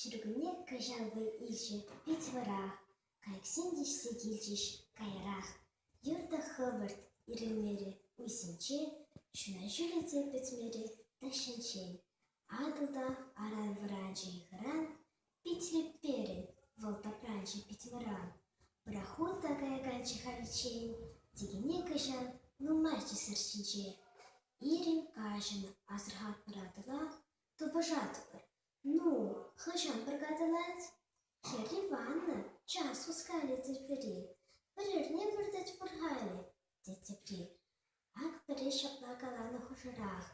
Ҫуркунне кӑҫалхи иҫӗ пит вӑрах, кайӑксем ҫиҫсе килчӗҫ каярах. Юрта хӑвӑрт ирӗлмерӗ уйсенче, ҫуна ҫӳле те пӗтмерӗ тахҫанччен. Атӑл та аран вӑранчӗ-и хӑран, Пит леперӗ вӑл тапранчӗ пит мӑран. Пӑрахунта каяканччӗ халиччен, текене кӑҫан нумайччӗсӗр ҫинче. Ирӗн каҫӑн асӑрхатпӑратӑла, тупӑшатпӑр. Ну, хӑҫан пӑркатӑлать? Хӗрри ваннӑ час хускалӗ тепри. Пӗр эрне выртать пӑр халӗ, тет тепри. Ахӑрӗ ҫапла каланӑ хушӑрах: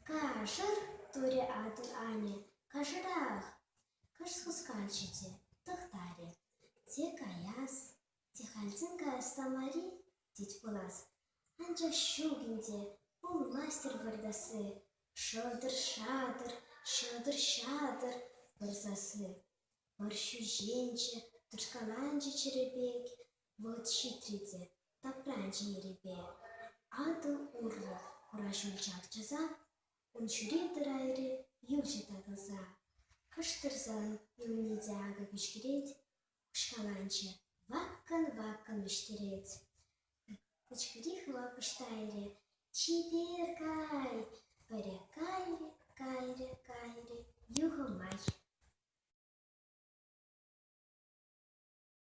«Кашӑр!» – турӗ атӑл-анне. «Кашӑрах!» – кӑшт хусканчӗ те тӑхтарӗ. «Те каяс, те хальтен каяс та мар-и?» тет пулас. Анчах ҫук ӗнтӗ, пулмасть-тӗр выртасси. Шӑтӑр-шатӑр, ҫӑтӑр-ҫатӑр пырсасси. Пӑр ҫӳҫенчӗ, тӑшкаланчӗ чӗрӗ пек. Вӑл ҫитрӗ те тапра чӗнерипе Атӑл урлӑ хура ҫул чавчаса, ун ҫӳре тӑрайри юрҫӑ татӑлса, кӑшт тӑрсан юлни те акӑ кӗҫкӗрет, пӑшкаланчӗ, ваккӑн-ваккӑн вӗҫтерет. Кӗҫкӗри хӑвакӑш тайрӗ, чипер кай! Пырӗ кайрӗ, кайрӗ, кайрӗ, юхӑмай.